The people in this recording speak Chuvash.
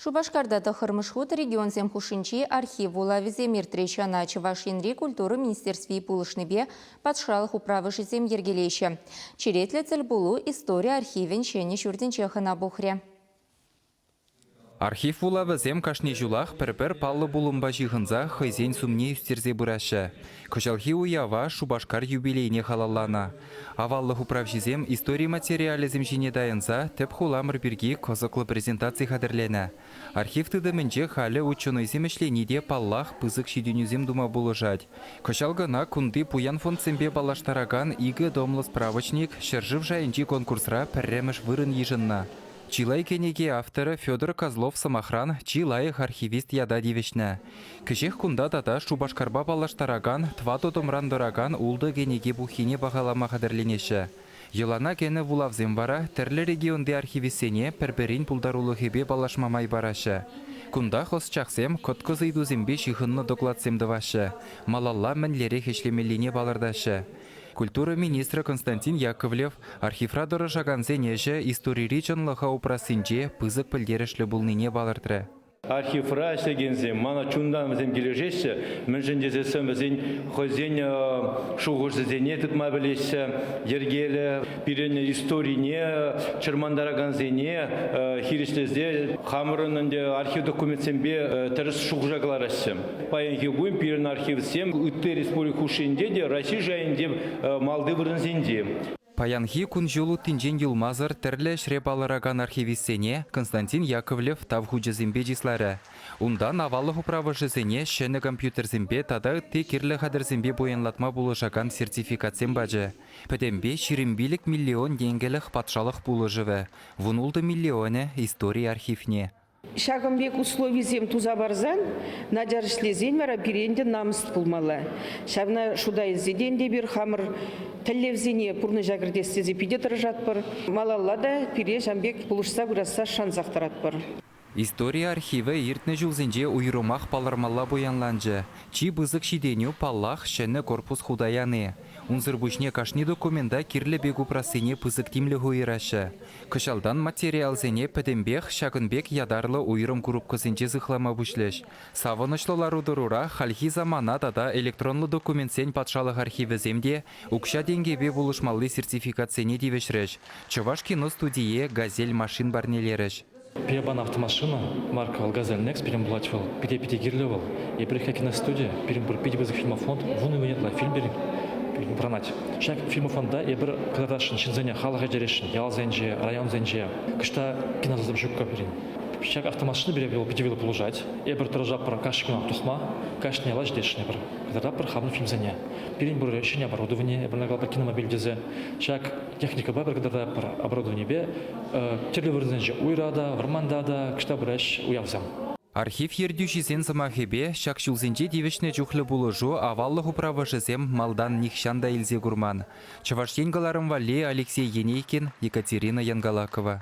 Шупашкарта тӑххӑрмӗш хут регионсем хушшинчи архив вулавӗсем иртрӗҫ. Ӑна Чӑваш Енри культура министерстви пулӑшнипе патшалӑх управӑшӗсем йӗркелеҫҫӗ. Черетлӗ тӗлпулу истори архивӗн ҫӗнӗ ҫуртӗнче хӑна пухрӗ. Архив вулавӗсем кашни ҫулах пӗр-пӗр паллӑ пулӑмпа ҫыхӑнса хӑйсен сумне ӳстерсе пыраҫҫӗ. Кӑҫалхи уява Шупашкар юбилейне халалланӑ. Аваллӑх управҫисем истори материалӗсем ҫине тайӑнса тӗп хуламӑр пирки кӑсӑклӑ презентаци хатӗрленӗ. Архив тытӑмӗнче халӗ ученӑйсем ӗҫлени те паллах пысӑк ҫитӗнӳсем тума пулӑшать. Кӑҫал кӑна кунти пуян фондсемпе паллаштаракан икӗ томлӑ справочник ҫӗршыв шайӗнчи конкурсра пӗрремӗш вырӑн йышӑннӑ. Чылай кӗнеке авторӗ Федор Козлов сӑмахран чи лайӑх архивист ята тивӗҫнӗ. Кӗҫех кунта тата Шупашкарпа паллаштаракан тӑватӑ томран тӑракан ултӑ кӗнеке пуххине пахалама хатӗрленеҫҫӗ. Йӑлана кӗнӗ вулавсем вара тӗрлӗ регионти архивистсене пӗр-пӗрин пултарулӑхӗпе паллашма май параҫҫӗ. Кунтах ӑсчахсем кӑткӑс ыйтусемпе ҫыхӑннӑ докладсем тӑваҫҫӗ, малалла мӗнлерех ӗҫлемеллине палӑртаҫҫӗ. Культура министрӗ Константин Яковлев архивра тӑрӑшакансен ӗҫӗ историри чӑнлӑха упрассинче пысӑк пӗлтерӗшлӗ пулнине палӑртрӗ. Архивра ӗҫлекенсем мана чунтан вӗсем килӗшеҫҫӗ, мӗншӗн тесессӗн вӗсен хӑйсен шухӑшӗсене тытма пӗлеҫҫӗ, йӗркеллӗ, пирӗн историне чӑрмантаракансене хирӗҫлесе хамӑрӑн ӗнтӗ архив документсемпе тӗрӗс шухӑша кӑлараҫҫӗ. Паянхи кун пирӗн архивсем ытти республика хушшинче те, Раҫҫей шайӗнче малти вырӑнсенче. Паянхи кун-ҫул уттинчен юлмасӑр тӗрлӗ ӗҫре палӑракан архивистсене Константин Яковлев тав хучӗсемпе чысларӗ. Унтан аваллӑх управӑшӗсене ҫӗнӗ компьютерсемпе тата ытти кирлӗ хатӗрсемпе пуянлатма пулӑшакан сертификатсем пачӗ. Пӗтӗмпе ҫирӗм пилӗк миллион тенкӗлӗх патшалӑх пулӑшӑвӗ, вун ултӑ миллионӗ истори архивне, Ҫакӑн пек условисем туса парсан начар ӗҫлесен вара пире ӗнтӗ намӑс пулмалла. Ҫавна шута илсе те ӗнтӗ эпир хамӑр тӗллевсене пурнӑҫа кӗртес тесе питӗ тӑрӑшатпӑр, малалла та пире ҫан пек пулӑшса пырасса шансах тӑратпӑр. Истори архивӗ иртнӗ ҫулсенче уйрӑмах палӑрмалла пуянланчӗ. Чи пысӑк ҫитӗнӳ, паллах, ҫӗнӗ корпус хута яни. Унсӑр пуҫне кашни документа кирлӗ пек упрассине пысӑк тимлӗх уйӑраҫҫӗ. Кӑҫалтан материалсене пӗтӗмпех ҫакӑн пек ятарлӑ уйрӑм курупкӑсенче сыхлама пуҫлӗҫ. Савӑнӑҫлӑ лару-тӑрура хальхи самана тата электронлӑ документсен патшалӑх архивӗсем те укҫа-тенкӗпе пулӑшмалли сертификатсене тивӗҫрӗҫ, Чӑваш киностудийӗ Газель машин парнелерӗҫ. Пияпан автомашина марка Алгазель Next пирӗн пулать вӑл. Питӗ питӗ кирлӗ вӑл. Еплерех киностуди, пирӗн пур питӗ пысӑк фильмофонд, вун икӗ ятла фильм пирӗн пурӑнать. Ҫак фильмофонда эпир кӑтартасшӑн ҫынсене халӑха итересшӗн, ялсенче, районсенче. Кӑҫта киносӑсем ҫуккӑ пирӗн. Ҫак автомашина пире вӑл питӗ вилӗ пулӑшать. Эпир тӑрӑшатпӑр кашни кунах тухма, кашни яла ҫитесшӗнпӗр. Кӑтартатпӑр хамӑн фильмсене. Пирӗн пур ҫӗнӗ оборудование, эпир накладпӑр киномобиль тесе. Ҫак Техникӑпа пӗр кӑтартатпӑр оборудованипе тӗрлӗ вырӑнсенче уйра та, вӑрманта та кӑшта пыраҫҫӗ уявсем. Архив ертӳҫисен сӑмахӗпе, ҫак ҫулсенче тивӗҫнӗ чухлӗ пулӑшу аваллӑх управӑшӗсем малтан нихҫан та илсе курман, Чӑваш Ен кӑларӑм валли Алексей Енейкин, Екатерина Янголакова.